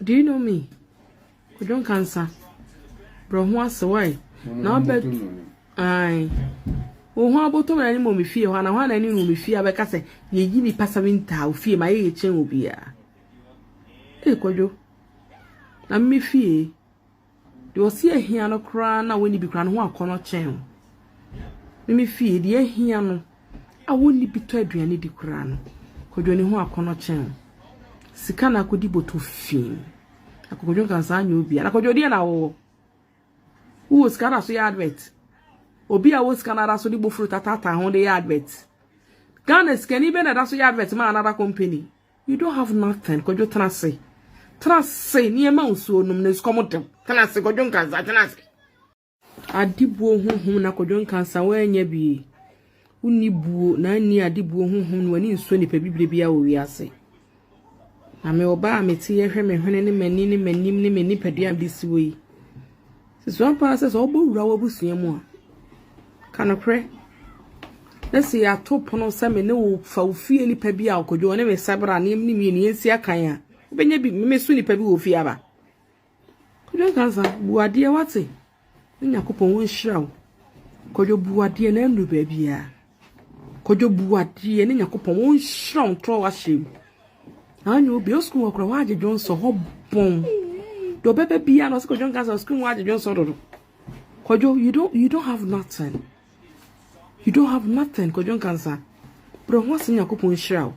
Do you know me? Kwadwo Nkansa. Brɛ ho ase wae. Na ɔbɛ ae. Wo ho abotɔ na ne mɔ me fie hɔ ana hɔ na ne no me fie abɛka sɛ yɛyi nipa seven taa wo fie ma yɛ yɛkyɛn obiara. Ee kwadwo. Na me fie. Deɛ ɔse ahia no koraa no a wɔnni bi koraa no ho akɔnnɔ kyɛn wo. Me me fie, deɛ ahia no a wɔnni bi tɔ aduane di koraa no, Kwadwoni ho akɔnnɔ kyɛn wo. Sika na akɔdi bɔtɔ fii. Akɔkɔdwo nka saa nyɛ obi a. Na kɔdwo deɛ na wɔwɔ. Wowɔ sika na so yɛ advert. Obi a wɔ sika na da so de bofuro tatata ho de yɛ advert. Ghana sikani bɛ na da so yɛ advert ma another company. You don't have nothing, Kwadwo tena ase. Tena ase, nneɛma nsuo nom na esukɔm dem. Tena ase, Kwadwo nkansa, tena ase. Adibuo honhom na Kwadwo nkansa woanya bi. Wonni buo na anni adibuo honhom na w'ani nsuo nipa bibire biara wɔ wiase. Na me ɔbaa a mete yɛhwɛ me hwene ne m'ani ne m'anim ne me nipadua a mede si wɔ yi. So sua paa sɛ sɛ wobɛwura w'abusua mu a, ka nokorɛ na sɛ yɛato pono sɛ me ne wo fa wo fie nipa bi a ɔkɔdwo ɔne me sabra ne ne mmienu yɛnsi akan a wobɛnya bi memeso nipa bi wɔ fie aba kɔdwo nka sa bu adeɛ wate ne nyakopɔn wɔnhyira wo kɔdwo bu adeɛ na nnuru baabiaa Kwadwo bu adeɛ yɛne Nyankopɔn wɔn nhyira wɔn trɔ ahyɛ mu. Anyo bi o school okura waje dwonso ho bon. Do bebe bia no siko dwon kansa school waje dwonso dodo. Kwadwo you don't you don't have nothing. You don't have nothing kwadwo kansa. Bro ho ase Nyankopɔn nhyira wo.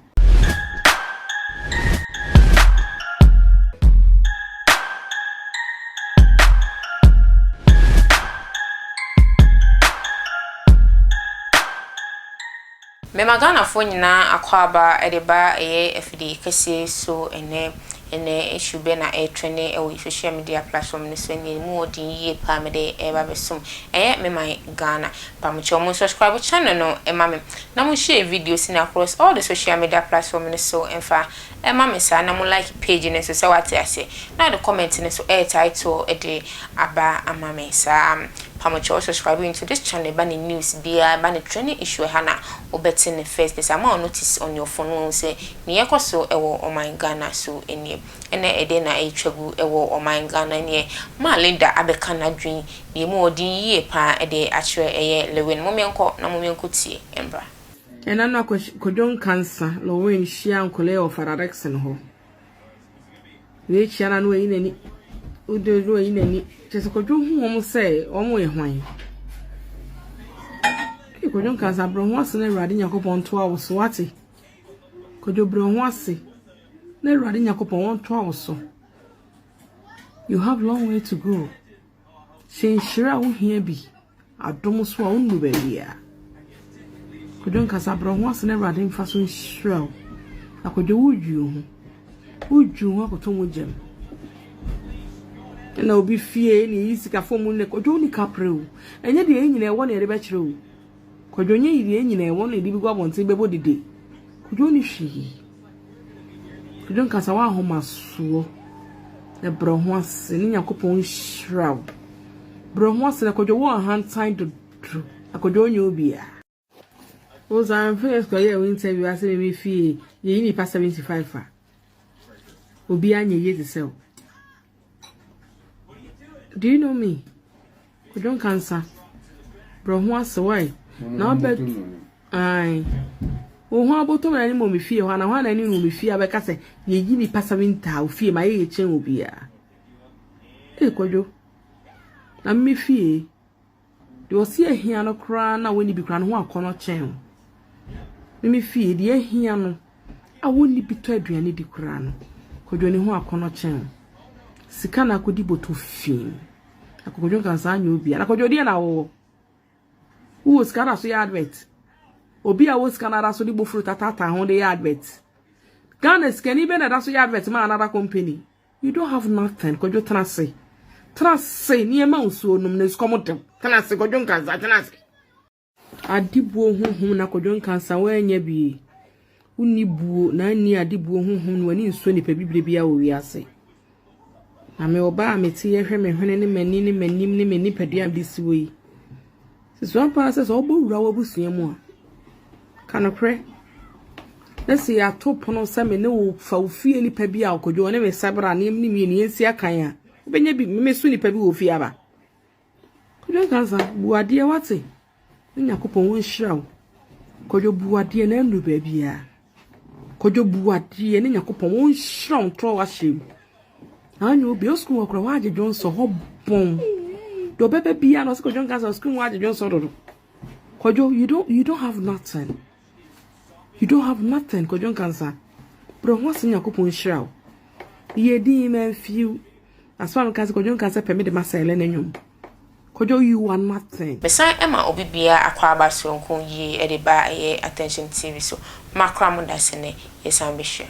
Mema Ghanafoɔ nyinaa akwaaba de ba ɛyɛ afidie kɛseɛ so ɛnnɛ. Ɛnnɛ issue bɛn na ɛretrɛne wɔ social media platform no so ɛnneɛ ɛmu wɔ den yie paa mede ɛreba bɛsom ɛyɛ me man Ghana mpamokyɛw mo subscribe channel no ma me na mo share videos no across all the social media platform no so mfa ma me saa na mo like page no nso sɛ wate aseɛ na ɔde comment no nso ɛyɛ title de aba ama me saa mpamokyɛw subscribe into this channel ɛba ne news biara ɛba ne trɛne issue ɛha na wobɛte ne first pɛ saa ma wo notice on your phone wɔn sɛ Nea ɛkɔ so wɔ ɔman Ghana so nie. Ɛna ɛdɛn na ɛretwa gu wɔ ɔman Ghana nie? Ma Linda abɛka n'adwene na emu wɔ den yie pa ara de akyerɛ. Ɛyɛ Lewin. Mommenkɔ na mommenkɔtie mmra. Ɛna na Kwadwo Nkansa, Lewin, hyia Nkolee wɔ Fada Dickson hɔ. Wei kyia no a na wayi n'ani. Wode na wayi n'ani. Kyerɛ sɛ Kwadwo hu wɔn sɛ wɔn yɛ hwan. Kwadwo Nkansa, brɛ ho ase na Awurade Nyankopɔn ntoa wo so, wate? Kwadwo brɛ wo ho ase na Awurade Nyankopɔn ɔntoa wo so. You have long way to go. Hyɛ nhyira a wohia bi adom so a wonnu baabi a. Kwadwo nkasa brɛ wo ho ase na Awurade mfa so nhyira wo. Na kwadwo wodwi wo ho. Wodwi wo ho akoto mu gyam. Ɛna obi fie na eyi sika fam ne kwadwo ne kapre o. Ɛnyɛ deɛ ɛnyina ɛwɔ na yɛde bɛkyerɛ o. Kwadwo nyɛ yiye nyina ɛwɔ no yɛde bɛgu abɔnten bɛbɔ dede kwadwo nni hwee kwadwo nkasa w'ahomasoɔ ɛbrɛ ho ase ne nyakopɔn nhyira wo brɛ ho ase na kwadwo wɔ ahantan dodo akwadwo nyɛ obia wo saa mfɛ yɛ sukɔ yɛ wo interview asɛ me me fie yɛyi nipa 75 a obia nyɛ yie te sɛ wo Do you know me? Odon kansa. Bro ho ase why? Na obet ai. Wo ho aboto na ni mo me fie ho na ho na ni no me fie abeka se ye yi ni pasa winta wo fie ma ye ye chen obi a. Eh kwadwo. Na me fie. Deɛ ɔse ahia no koraa na wɔnni bi koraa no ho akɔnnɔ kyɛn o. Me me fie deɛ ahia no a wɔnni bi tɔ aduane di koraa no, Kwadwo ne ho akɔnnɔ kyɛn o. Sika na akɔdi bɔtɔ fii. Na Kwadwo nka saa nyɛ obia. Na Kwadwo deɛ na wɔwɔ. Wowɔ sika da so yɛ advert. Obi a wɔ sika na da so de bofuro tatata ho de yɛ advert. Ghana sikani bɛ na da so yɛ advert ma another company. You don't have nothing, Kwadwo tena ase. Tena ase, nneɛma nsuo nom na esukɔm dem. Tena ase, Kwadwo nkansa, tena ase. Adibuo honhom na Kwadwo nkansa woanya bi. Wonni buo na anni adibuo honhom na w'ani nsuo nipa bibire biara wɔ wiase. Na me ɔbaa a mete yɛhwɛ me hwene ne m'ani ne m'anim ne me nipadua a mede si wɔ yi. So sua paa sɛ sɛ wobɛwura w'abusua mu a, ka nokorɛ na sɛ yɛato pono sɛ me ne wo fa wo fie nipa bi a ɔkɔdwo ɔne me sabra ne ne mmienu yɛnsi akan a wobɛnya bi memeso nipa bi wɔ fie aba kɔdwo nka sa bu adeɛ wate ne nyakopɔn wɔnhyira wo kɔdwo bu adeɛ na anu baabiaa Kwadwo bu adeɛ yɛne Nyankopɔn wɔn nhyira wɔn trɔ ahyɛ mu. Anyo bi o school okura wa agye dwon so ho bon. Do bebe bia no siko dwon kansa school wa agye dwon so dodo. Kwadwo you don't you don't have nothing. You don't have nothing kwadwo kansa. Bro ho ase Nyankopɔn nhyira wo. Ye din man few Asɛm a meka sɛ Kwadwo nka sɛ pɛ me de ma Sɛɛlɛ no nnwom. Kwadwo you are nothing. Mesan ɛma obi biaa akwaaba soronko yie ɛde ba ɛyɛ attention TV so ma kora mo da sɛ nɛ yɛsan bɛhyira.